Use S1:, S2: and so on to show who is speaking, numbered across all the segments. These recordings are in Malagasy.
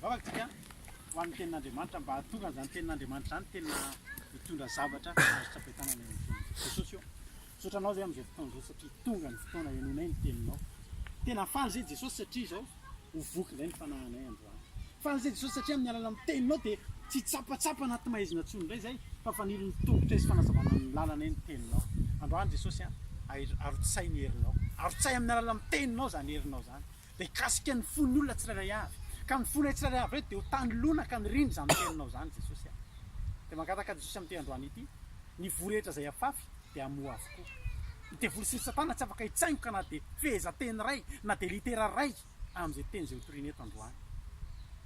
S1: Mivavaka isika ho an'ny tenin'Andriamanitra mba hahatonga an'izany tenin'Andriamanitra izany tena hitondra zavatra azo tsapain tanana eo amin'ny fiainantsika. Jesosy ô, misaotra anao izay amin'izao fotoana izao satria tonga ny fotoana henoinay ny teninao. Tena faly izay Jesosy satria izao ho voky indray ny fanahinay androany. Faly izay Jesosy satria amin'ny alalan'ny teninao dia tsy tsapatsapa anaty maizina intsony indray izay fa fanilin'ny tongotray sy fanazavana ny lalanay ny teninao. Androany Jesosy a, air- arotsahy ny herinao. Arotsahy amin'ny alalan'ny teninao izany herinao izany. dia hikasika ny fon'ny olona tsirairay avy, ka ny fonay tsirairay avy ireo dia ho tany lona ka nirindra izany teninao izany Jesosy a! Dia mangataka Jesosy amin'ity androany ity, ny voa rehetra izay afafy dia hamoa avokoa. Ny devoly sy ny satana tsy afaka hitsaingoka na dia fehezanteny iray na dia litera iray amin'izay teny izay hotorina eto androany.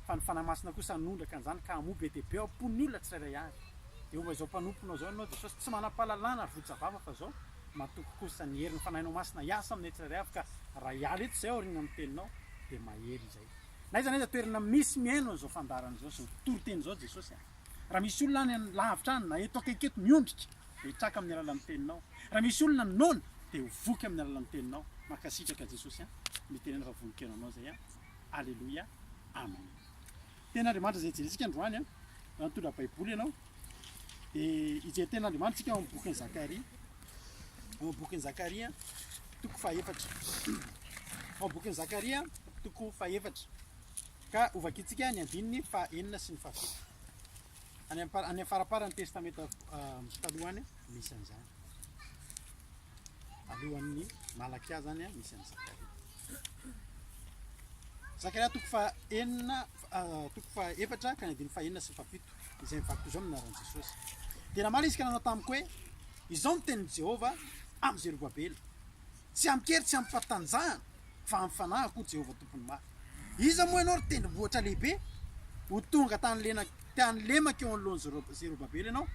S1: Fa ny Fanahy Masina kosa hanondraka an'izany ka hamoa be dia be ao am-pon'ny olona tsirairay avy. Dia homba izao mpanomponao izao ianao Jesosy, tsy manam-pahalalana ary votsa vava fa izao, matoky kosa ny herin'ny Fanahinao Masina hiasa aminay tsirairay avy ka raha hiala eto izay aoriana ny Teninao dia mahery izay. N'aiza n'aiza toerana misy mihaino an'izao fandaharana izao sy ny toriteny izao Jesosy a! Raha misy olona any lavitra any na eto akaiky eto miondrika dia hitraka amin'ny alalan'ny Teninao. Raha misy olona noana dia ho voky amin'ny alalan'ny Teninao. Mankasitraka Jesosy a! Mitenena fa vonon-kenanao izay a! Aleloia! Amen! Tenin'Andriamanitra izay hijerentsika androany an, raha mitondra Baiboly ianao dia hijery tenin'Andriamanitra isika ao amin'ny bokin'i Zakaria, ao amin'ny bokin'i Zakaria toko fahefatra, ao amin'ny bokin'i Zakaria toko fahefatra, ka hovakintsika ny andininy fahenina sy ny fahafito, any am- any faraparan'ny testamenta ah, taloha any misy an'izany, alohan'ny Malakia zany an, misy an'i Zakaria. Zakaria toko faha enina toko faha efatra ka ny andininy faha enina sy faha fito izay mivaky toy izao ny anaran'i Jesosy. Dia namaly izy ka nanao tamiko hoe izao ny tenin'i Jehovah amin'i Zerobabela, tsy amin-kery tsy amim-pahatanjahana fa amin'ny fanahy akoa Jehovah Tompon'ny mafy. Iza moa ianao ry tendrombohitra lehibe? Ho tonga tany lena- tany lemaka eo anoloan'i Zero- Zerobabela ianao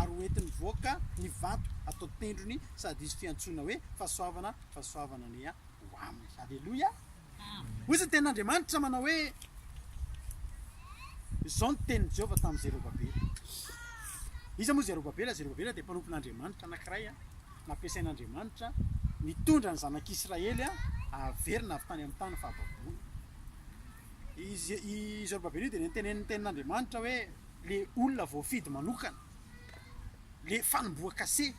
S1: ary ho entiny mivoaka ny vato atao tendrony sady hisy fiantsoana hoe fahasoavana, fahasoavana anie an. ho aminy. Aleloia! Hoy izany tenin'Andriamanitra manao hoe, izao ny tenin'i Jehovah tamin'i Zerobabela. Iza moa Zerobabela? Zerobabela dia mpanompon'Andriamanitra anankiray nampiasain'Andriamanitra nitondra ny zanak'Israely haverina avy tany amin'ny tany fahababoana. I Zerobabela io dia nentenenin'ny tenin'Andriamanitra hoe le olona voafidy manokana, le fanombohan-kase.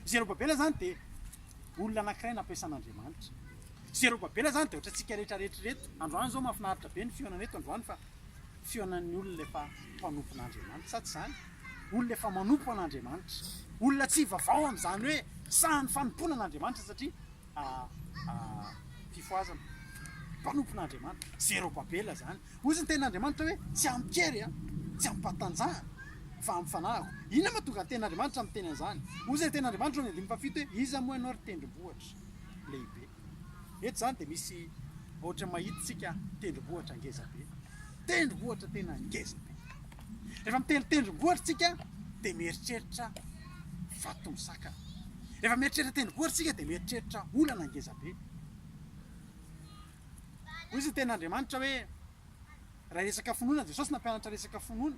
S1: Zerobabela izany dia olona anankiray nampiasan'Andriamanitra. Zerobabela izany dia ohatrantsika rehetra rehetra ireto. Androany izao mahafinaritra be ny fihaonana eto androany fa fihaonan'ny olona efa mpanompon'Andriamanitra, sa tsy izany? Olona efa manompo an'Andriamanitra. Olona tsy hivavao amin'izany hoe sahan'ny fanompoana an'Andriamanitra satria ah, ah, fifohazana. Mpanompon'Andriamanitra. Zerobabela izany. Hoy ny tenin'Andriamanitra hoe, Tsy amin-kery, tsy amim-pahatanjahana, fa amin'ny fanahiko. Inona moa tonga ny tenin'Andriamanitra miteny an'izany? Hoy izay tenin'Andriamanitra ao amin'ny andininy fahafito hoe, Iza moa ianao, ry tendrombohitra lehibe? Eto izany dia misy ohatran'ny mahitantsika tendrombohitra ngeza be. Tendrombohitra tena ngeza be. Rehefa miteny tendrombohitra isika dia mieritreritra vato misakana. Rehefa mieritreritra tendrombohitra isika dia mieritreritra olana ngeza be. Hoy izay teny Andriamanitra hoe, Raha resaka finoana, Jesosy nampianatra resaka finoana.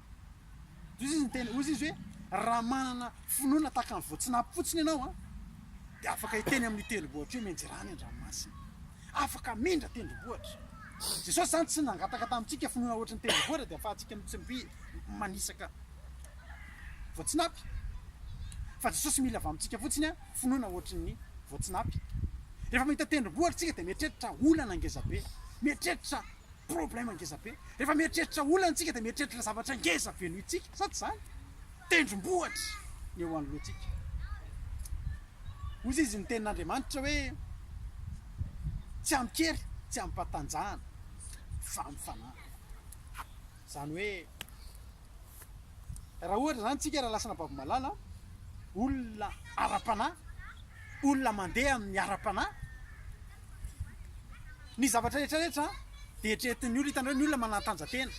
S1: Hoy izy niteny, hoy izy hoe, raha manana finoana tahaka ny voatsinapy fotsiny ianao an, dia afaka hiteny amin'ny tendrombohitra hoe menjera any an-dranomasina. Afaka hamindra tendrombohitra. Jesosy izany tsy nangataka tamintsika finoana ohatry ny tendrombohitra dia afahantsika mitsmpi manisaka voatsinapy fa Jesosy mila avy amintsika fotsiny an, finoana ohatry ny voatsinapy. Rehefa mahita tendrombohitra tsika dia mieritreritra olana ngeza be, mieritreritra problème ngeza be. Rehefa mieritreritra olana tsika dia mieritreritra zavatra ngeza be noho itsika, sa tsy zany? Tendrombohitra ny eo anoloantsika. Hoy izy ny tenin'Andriamanitra hoe tsy amin-kery, tsy amim-patanjahana fa amin'ny fanahy. Izany hoe raha ohatra izany isika raha lasana babo malala, olona ara-panahy, olona mandeha amin'ny ara-panahy, ny zavatra rehetra rehetra dia eritreretin'ny olona, hitanareo ny olona manantanjantena,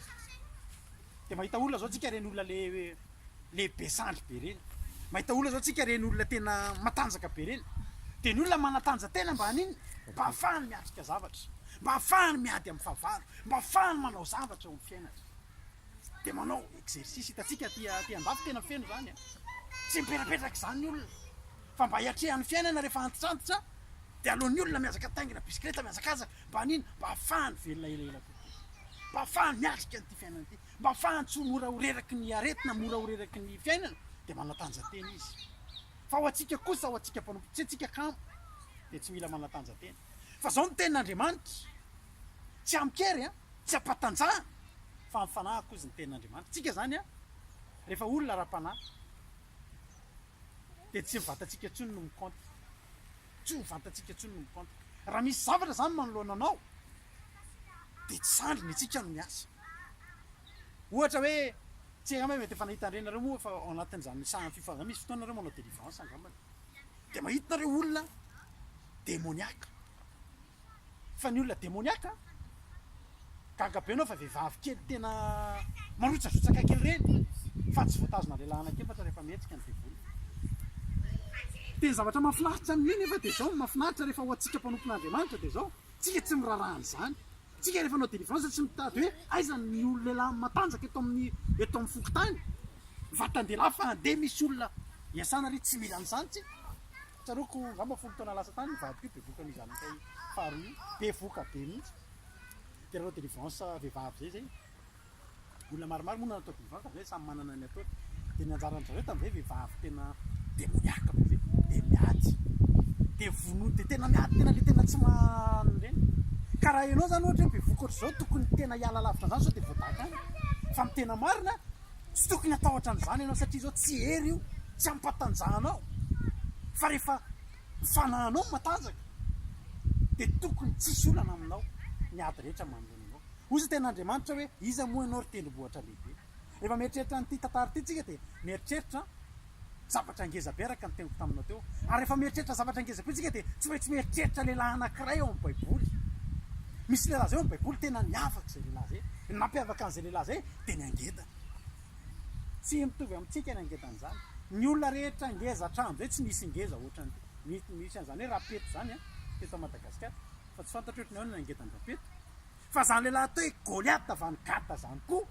S1: dia mahita olona izao isika ireny olona le- lehibe sandry be ireny, mahita olona izao isika ireny olona tena matanjaka be ireny, dia ny olona manantanjantena mba hanino? Mba hahafahany miatrika zavatra, mba hahafahany miady amin'ny fahavalo. mba afahany manao zavatra eo amin'ny fiainany dia manao exercice, hitantsika aty aty andafy tena feno zany an! tsy mipetrapetraka izany olona fa mba hiatrehan'ny fiainana rehefa antitrantitra dia aleon'ny olona mihazaka mitaingina bisikileta mihazakazaka mba an'ino? mba afahany velona elaela kokoa, mba afahany miatrika an'ity fiainana ity, mba afahany tsy ho mora ho reraky ny aretina, mora ho reraky ny fiainana dia manatanja-tena izy, fa ho antsika kosa ho antsika mpanompo tsy antsika kamo dia tsy mila manatanja-tena fa zao ny tenin'Andriamanitra. Tsy amin-kery an, tsy am-patanjahana fa amin'ny fanahy kozy ny tenin'Andriamanitra. Tsika zany an, rehefa olona ara-panahy dia tsy ny vatantsika intsony no mi-compte, tsy ny vatantsika intsony no mi-compte. Raha misy zavatra zany manoloana anao dia tsy zandriny antsika no miasa. Ohatra hoe, tsy hay angamba mety efa nahita an'ireny nareo moa fa ao anatin'izany sahan'ny fifamp, misy fotoana nareo manao delivrance angambany dia mahita nareo olona demoniaque. fa ny olona demoniaka gaga be anao fa vehivavy kely tena marotsarotsaka kely ireny fa tsy voatazona lehilahy anaky efatra rehefa mihetsika ny devoly tena zavatra mahafinaritra ny mena efa dia zao mahafinaritra rehefa ho antsika mpanompon'Andriamanitra dia zao tsika tsy miraraha an'izany tsika rehefa anao délivrance tsy mitady hoe aiza ny olona lehilahy matanjaka eto amin'ny eto amin'ny fokontany vatan-dehilahy fa andeha misy olona iasana re tsy mila an'izany tsika Tsaroako angamba folo taona lasa tany io vadiko io bevoka an'io zanakay faharoa io, bevoka be mihitsy, dia nanao délivrance vehivavy izay izay, olona maromaro moa no natao délivrance tamin'izay, samy manana ny ataony, dia ny anjaran'ny zareo tamin'izay vehivavy tena demoniaque be izay, dia miady, dia vonoy, dia tena miady, tena ilay tena tsy mahalala ireny, ka raha ianao izany ohatra hoe bevoka ohatr'izao tokony tena hiala lavitra an'izany sao dia voadaka any, fa ny tena marina Tsy tokony hatahotra an'izany ianao satria izao tsy hery io, tsy hampatanjaha anao fa rehefa ny fanahinao no matanjaka dia tokony tsy hisy olana aminao ny ady rehetra manoloana anao. Hoy izao tenin'Andriamanitra hoe iza moa ianao ry tendrombohitra lehibe. Rehefa mieritreritra an'ity tantara ity isika dia mieritreritra Zavatra ngeza be araka ny teniko taminao teo. Ary rehefa mieritreritra zavatra ngeza be tsika dia tsy maintsy mieritreritra lehilahy anakiray ao amin'ny baiboly. Misy lehilahy zay ao amin'ny baiboly tena niavaka izay lehilahy zay. Ny nampiavaka an'izay lehilahy zay dia ny angedany. Tsy mitovy amintsika ny angedany zany. Ny olona rehetra ngeza hatramin'izay tsy nisy ngeza ohatran'ity. Misy an'izany hoe rapeto zany teto Madagasikara. Fa tsy fantatro ohatran'ny ahoana ny angedan-drapeto. Fa zany lehilahy atao hoe Goliath van Gata zany koa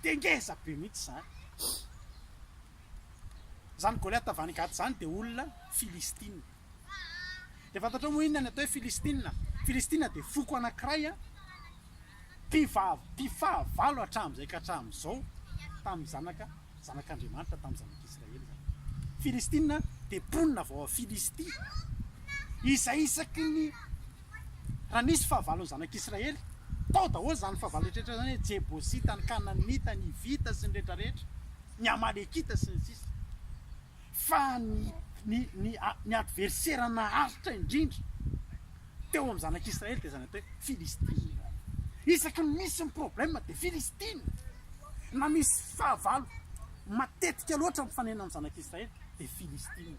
S1: dia ngeza be mihitsy zany. Zany Goliath van Gata zany dia olona Filistina. Dia fantatrao moa inona ny atao hoe Filistina? Filistina dia foko anankiray mpifahavalo hatramin'izay ka hatramin'izao tamin'ny zanaka zanak'Andriamanitra tamin'ny zanak'Israely zany. Filistina dia mponina avy ao Filistia izay isaky ny raha nisy fahavalon'ny zanak'Israely, tao daholo izany fahavalo rehetrarehetra izany, ny Jebosita, ny Kananita, ny Hivita sy ny rehetrarehetra, ny Amalekita sy ny sisa Fa ny ny ny ny adversera naharitra indrindra teo amin'ny zanak'Israely dia izany atao hoe Filistina izany. Isaky ny misy ny problème dia Filistina. Na misy fahavalo matetika loatra mifanena amin'ny zanak'Israely dia Filistina.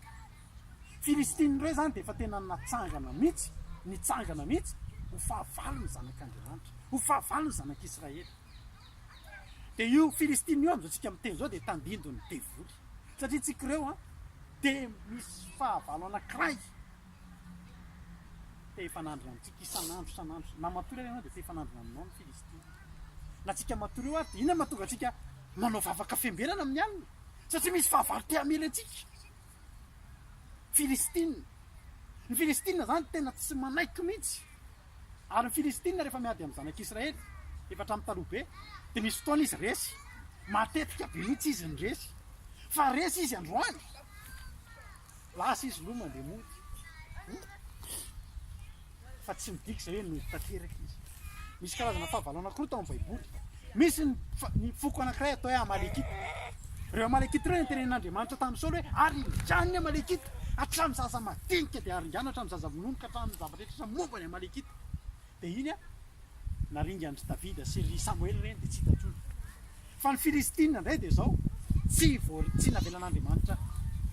S1: Filistina indray izany dia efa tena natsangana mihitsy, nitsangana mihitsy ho fahavalo ny zanak'Andriamanitra, ho fahavalo ny zanak'Israely. Dia io Filistina io amin'izao tsika miteny izao dia tandindon'ny devoly. Satria tsika ireo an, dia misy fahavalo anankiray te hifanandrina amintsika isan'andro isan'andro. Na matory ary ianao dia te hifanandrina aminao ny Filistina. Na tsika matory eo ary dia inona mahatonga antsika manao vavaka fiambenana amin'ny alina? Satria misy fahavalo te hamely antsika. Filistina. Ny Filistina izany tena tsy manaiky mihitsy. Ary ny Filistina rehefa miady amin'ny zanak'Israely, efa hatramin'ny taloha be, dia misy fotoana izy resy. Matetika be mihitsy izy no resy. Fa resy izy androany, lasa izy loha mandeha mody. fa tsy midika izay hoe nody tanteraka izy. Misy karazana fahavalo anankiroa tao amin'ny Baiboly. Misy ny, ny foko anankiray atao hoe Amalekita. Ireo Amalekita ireo notenenin'Andriamanitra tamin'i Saoly hoe aringano ny Amalekita hatramin'ny zaza madinika dia aringano hatramin'ny zaza vonono ka hatramin'ny zavatra rehetra momba ny Amalekita. Dia iny a, naringan'i Davida sy ry Samoela ireny dia tsy hita intsony. Fa ny Filistina indray dia izao, tsy vo, tsy navelan'Andriamanitra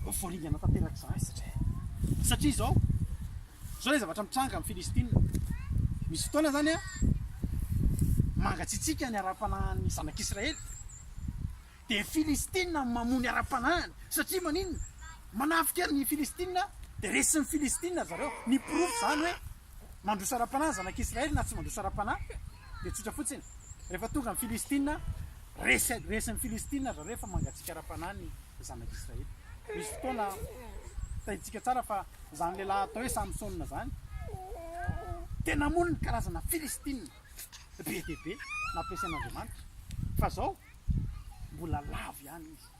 S1: ho voaringana tanteraka izany satria satria izao Izao ilay zavatra mitranga amin'i Filistina. Misy fotoana izany mangatsiatsiaka ny ara-panahin'ny zanak'Israely, dia i Filistina no mamoha ny ara-panahiny. Satria maninona? Manafika ny Filistina, dia resin'ny Filistina ry zareo. Ny porofo izany hoe mandroso ara-panahy ny zanak'Israely na tsy mandroso ara-panahy dia tsotra fotsiny, rehefa tonga ny Filistina, resy resin'ny Filistina ry zareo fa mangatsiaka ara-panahy ny zanak'Israely. Misy fotoana, tadidiantsika tsara fa. Izany lehilahy atao hoe Samsona izany dia namono ny karazana Filistina be dia be nampiasain'Andriamanitra, fa izao mbola lavo ihany izy.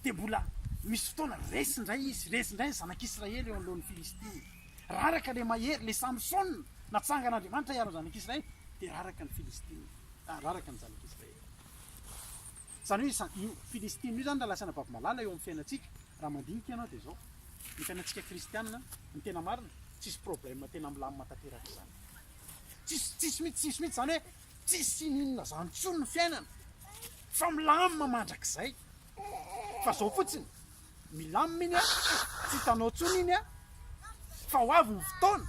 S1: Dia mbola misy fotoana resy indray izy, resy indray ny zanak'Israely eo anoloan'ny Filistina. Raraka ilay mahery, ilay Samsona natsangan'Andriamanitra hiaro ny zanak'Israely, dia raraka ny Filistina, ah, raraka ny zanak'Israely. Zany hoe izany, io Filistina io zany raha lasana baby malala eo amin'ny fiainantsika, raha mandinika ianao dia izao, ny fiainantsika kristiana ny tena marina, tsisy problème tena milamina tanteraka izany. Tsisy, tsisy mihitsy, tsisy mihitsy izany hoe tsisy inininona izany intsony ny fiainana, fa milamina mandrakizay. Fa izao fotsiny. Milamina iny an! tsy hitanao intsony iny an! fa ho avy ny fotoana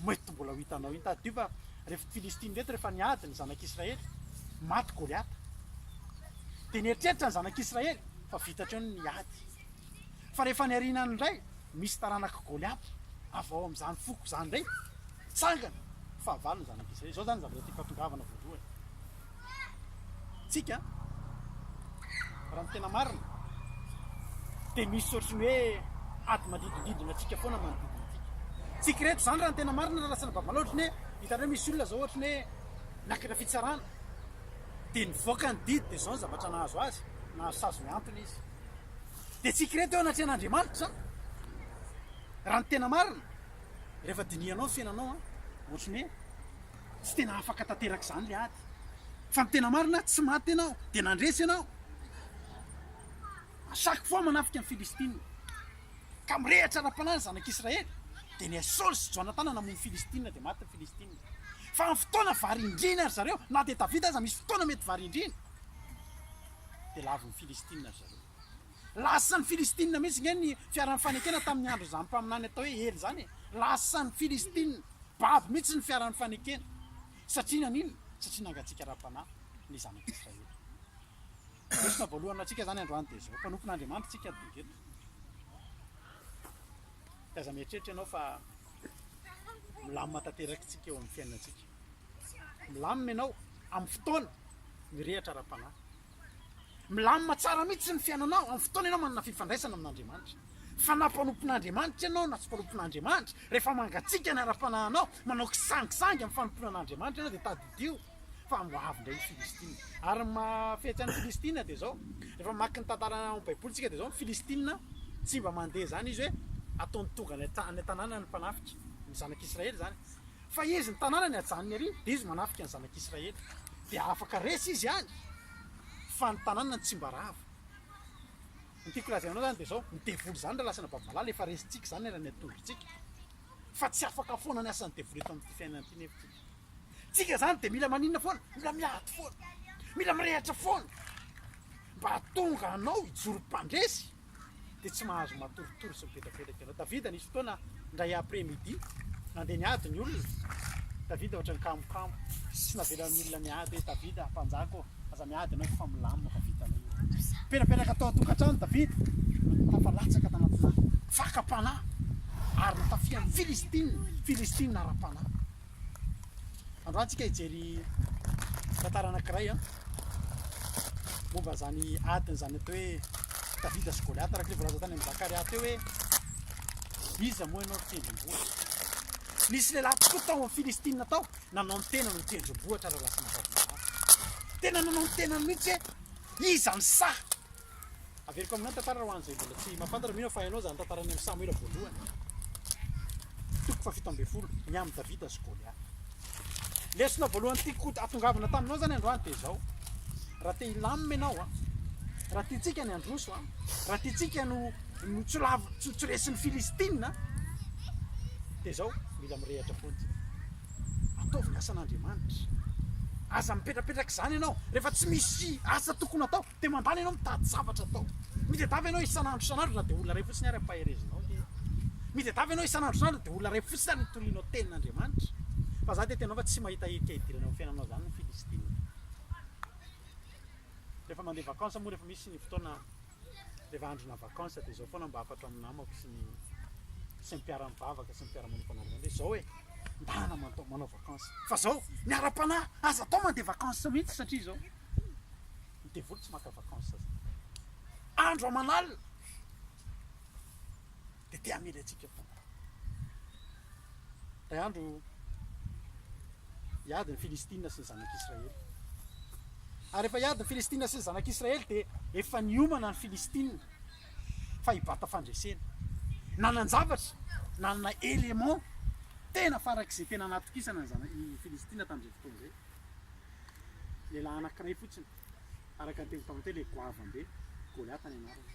S1: mety mbola ho hitanao iny, tadidio fa rehefa i Filistina ireto rehefa niady ny zanak'i Israely, maty Goliata, dia nieritreritra ny zanak'i Israely fa vita hatreo ny ady, fa rehefa ny arinany indray misy taranak'i Goliata avy ao amin'izany foko izany indray, tsangana, fahavalo ny zanak'i Israely, izao izany ny zavatra tiako hahatongavana voalohany. tsika raha ny tena marina dia misy ohatry ny hoe ady manodidididina antsika foana manodidina antsika tsika reto zany raha ny tena marina raha lasana babala ohatry ny hoe hitanao misy olona zao ohatry ny hoe nakina fitsarana dia nivoaka ny didy dia zao ny zavatra nahazo azy nahazo sazy miantona izy dia tsika reto eo anatrehan'andriamanitra zany raha ny tena marina rehefa dinihanao ny fiainanao a ohatry ny hoe Tsy tena afaka tanteraka izany ilay ady. Fa ny tena marina, tsy maty ianao, dia nandresy ianao. A chaque fois manafika ny Filistina. Ka mirehatra ara-panahy ny zanak'Israely. Dia ny an'i Saoly sy Jonatana namono ny Filistina, dia maty ny Filistina. Fa amin'ny fotoana varindrina ry zareo, na dia Davida aza misy fotoana mety varindrina, dia lavin'ny Filistina ry zareo. Lasan'ny Filistina mihitsy nge ny fiaran'ny fanekena tamin'ny andron'izany mpaminany atao hoe Ely izany e! Lasan'ny Filistina, babo mihitsy ny fiaran'ny fanekena. Satria naninona? Satria nangatsiaka ara-panahy ny zanak'Israely. Lesona voalohany ho antsika izany androany dia izao, mpanompon'Andriamanitra isika tonga eto. Dia aza mieritreritra ianao fa milamina tanteraka isika eo amin'ny fiainantsika. Milamina ianao amin'ny fotoana mirehatra ara-panahy. Milamina tsara mihitsy ny fiainanao amin'ny fotoana ianao manana fifandraisana amin'Andriamanitra. Fa na mpanompon'Andriamanitra ianao na tsy mpanompon'Andriamanitra, rehefa mangatsiaka ny ara-panahinao, manao kisangisangy amin'ny fanompoana an'Andriamanitra ianao dia tadidio fa ho avy indray ny Filistina. Ary ny mahafetsy an'ny Filistina dia izao, rehefa mamaky ny tantara ao amin'ny Baiboly isika dia izao, ny Filistina tsy mba mandeha izany izy hoe ataony tonga any an-tanànany ny mpanafika, ny zanak'Israely izany. Fa izy ny tanànany hajanony ery, dia izy manafika ny zanak'Israely, dia afaka resy izy any, fa ny tanànany tsy mba rava. Ny tiako lazaina anao izany dia izao, ny devoly izany raha lasanà babo malala, efa resintsika izany eran'ny atondrotsika, fa tsy afaka foana ny asan'ny devoly eto amin'ity fiainana ity nefa tsika. Tsika izany dia mila maninona foana? Mila miady foana, mila mirehatra foana, mba hahatonga anao hijoro mpandresy. dia tsy mahazo matoritory sy mivetravetraka ianao. Davida nisy fotoana indray après midi, nandeha niady ny olona, Davida ohatran'ny kamokamo, tsy navelan'ny olona niady hoe Davida mpanjaka ô, aza miady ianao fa milamina fa vitanay io. Penapenaka tao an-tokantrano Davida, hafa latsaka tanatinà fakam-panahy ary nitafian'ny Filistina, Filistina ara-panahy. Androany antsika hijery tantara anankiray a momba izany adiny izany atao hoe Davida sy Goliata araka ny voalaza tany amin'ny Zakaria teo hoe iza moa ianao ry tendrombohitra nisy lehilahy tokoa tao amin'ny Filistina tao nanao ny tenany ho tendrombohitra raha lasan'i Davida tena nanao ny tenany mihitsy hoe iza ny sahy Averiko aminao ny tantara raha ho an'izay mbola tsy mahafantatra, mino aho fa hainao izany tantaran'ny amin'i Samoela voalohany, toko fahafito ambin'ny folo, ny amin'i Davida sy Goliath. Lesona voalohany tiako hatongavana taminao izany androany dia izao, raha te hilamina ianao a, raha tiantsika ny handroso a, raha tiantsika no no tsy lavo tsy tsy resin'ny Filistina dia izao, mila mirehatra foana isika. Ataovy ny asan'Andriamanitra. Aza mipetrapetraka izany ianao, rehefa tsy misy asa tokony atao, Dia mandalo ianao mitady zavatra atao. Mitedava ianao isan'andro isan'andro na dia olona iray fotsiny ary ampaherezinao ve? Mitedava ianao isan'andro isan'andro dia olona iray fotsiny ary notorianao tenin'Andriamanitra? Fa za dia tena fa tsy mahita hetsika hidirana amin'ny fiainanao zany ny Filistina. Rehefa mandeha vacances moa rehefa misy ny fotoana rehefa androna vacances dia zao foana mba hafatro amin'ny namako sy ny sy ny mpiara-mivavaka sy ny mpiara-manofana andriamanitra hoe zao e, ndana manao vacances fa zao miara-panahy aza atao mandeha vacances mihitsy satria zao. ny devoly tsy maka vacances zany andro aman'alina de te hamely antsika foana ray andro hiady ny filistina sy ny zanak'israely ary efa hiady ny filistina sy ny zanak'israely de efa niomana ny filistina fa hibata fandresena nanan-javatra nanana élément tena farak'izay tena anatokisana ny zana- ny filistina tamin'izay fotoana izay Lehilahy anankiray fotsiny, araka ny teny tao an-teny hoe goavam-be, Goliata ny anarany.